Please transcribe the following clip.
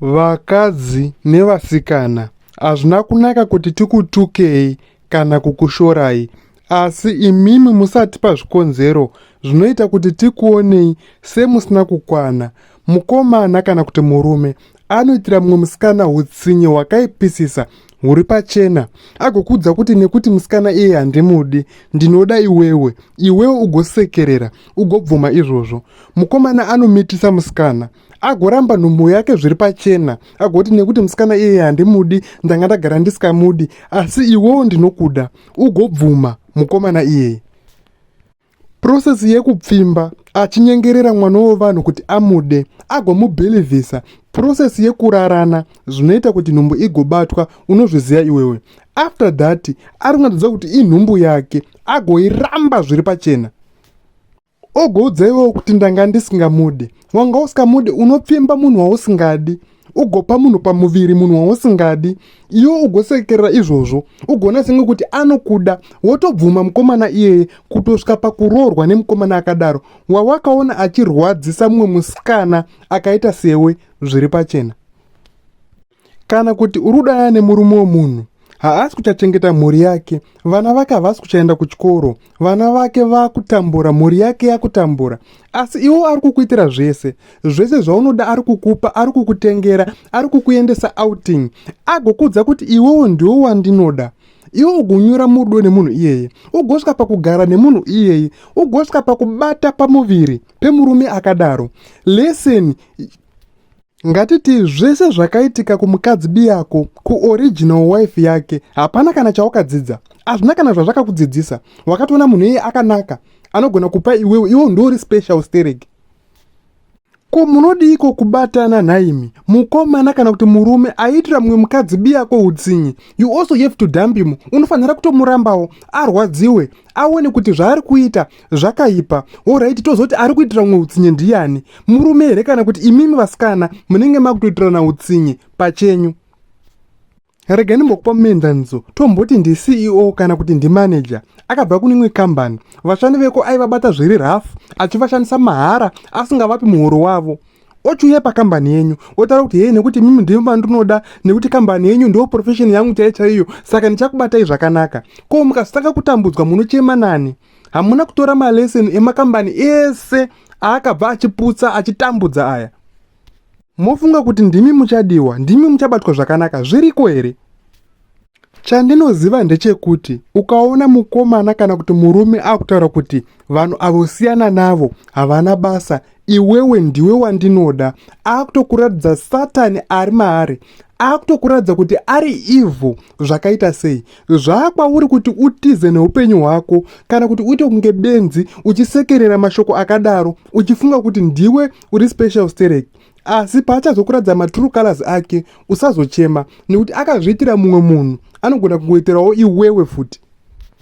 Vakadzi nevasikana hazvina kunaka kuti tikutukei kana kukushorai asi imimi musatipa zvikonzero zvinoita kuti tikuonei semusina kukwana. Mukomana kana kuti murume anoitira mumwe musikana utsinye hwakaipisisa huri pachena agokuudza kuti nekuti musikana iye handimudi ndinoda iwewe iwewe ugosekerera ugobvuma izvozvo mukomana anomitisa musikana agoramba nhumbu yake zviri pachena agoti nekuti musikana iye handimudi ndanga ndagara ndisikamudi asi iwewo ndinokuda ugobvuma mukomana iyeye prosesi yekupfimba achinyengerera mwana wevanhu kuti amude agomubhilivhisa prosesi yekurarana zvinoita kuti nhumbu igobatwa unozviziva iwewe after that ari kunatidza kuti inhumbu yake agoiramba zviri pachena Ogoudza iwewo kuti ndanga ndisingamude. Wanga usikamude unopfimba munhu wausingadi ugopa munhu pamuviri munhu wausingadi iwe ugosekerera izvozvo ugoona senge kuti anokuda wotobvuma mukomana iyeye kutosvika pakuroorwa nemukomana akadaro wawakaona achirwadzisa mumwe musikana akaita sewe zviri pachena Kana kuti uri kudana nemurume wemunhu haasi kuchachengeta mhuri yake vana vake havasi kuchaenda kuchikoro vana vake vakutambura mhuri yake yakutambura asi iwo ari kukuitira zvese zvese zvaunoda ari kukupa ari kukutengera ari kukuendesa outing agokuudza kuti iwewo ndiwo wandinoda iwe ugonyura mudo nemunhu iyeye ugosvika pakugara nemunhu iyeye ugosvika pakubata pamuviri pemurume akadaro leseni Ngatiti zvese zvakaitika kumukadzi biyako, kuoriginal wife yake, hapana kana chawakadzidza. Hazvina kana zvazvakakudzidzisa. Wakatoona munhu iye akanaka, anogona kupa iwewe, iwo ndouri special stereki. Ko munodiiko kubatana nhaimi? Mukomana kana kuti murume aiitira mumwe mukadzi biyako utsinye, you also have to dump him. Unofanira kutomurambawo, arwadziwe. aone kuti zvaari kuita zvakaipa horaiti tozoti ari kuitira umwe utsinye ndiyani murume here kana kuti imimi vasikana munenge makutoitirana utsinye pachenyu rega ndimbokupa muenzaniso tomboti ndiceo kana kuti ndimanager akabva kune imwe kambani vashandi veko aivabata zviri rough achivashandisa mahara asingavapi muhoro wavo ochiuya pakambani yenyu otaura kuti hei nekuti mimi ndimi vandinoda nekuti kambani yenyu ndo profession yangu chaiyo chaiyo saka ndichakubatai zvakanaka ko mukasitanga kutambudzwa munochema nani hamuna kutora maleseni emakambani ese aakabva achiputsa achitambudza aya mofunga kuti ndimi muchadiwa ndimi muchabatwa zvakanaka zviriko here Chandinoziva ndechekuti ukaona mukomana kana kuti murume akutaura kuti vanhu avo siyana navo havana basa iwewe ndiwe wandinoda akutokuratidza satani ari maari akutokuratidza kuti ari evil zvakaita sei zvaakwauri kuti utize neupenyu hwako kana kuti uite kunge benzi uchisekerera mashoko akadaro uchifunga kuti ndiwe uri special stereki asi paachazokuratidza matrue colors ake usazochema nekuti akazviitira mumwe munhu anogona kungoitirawo iwewe futi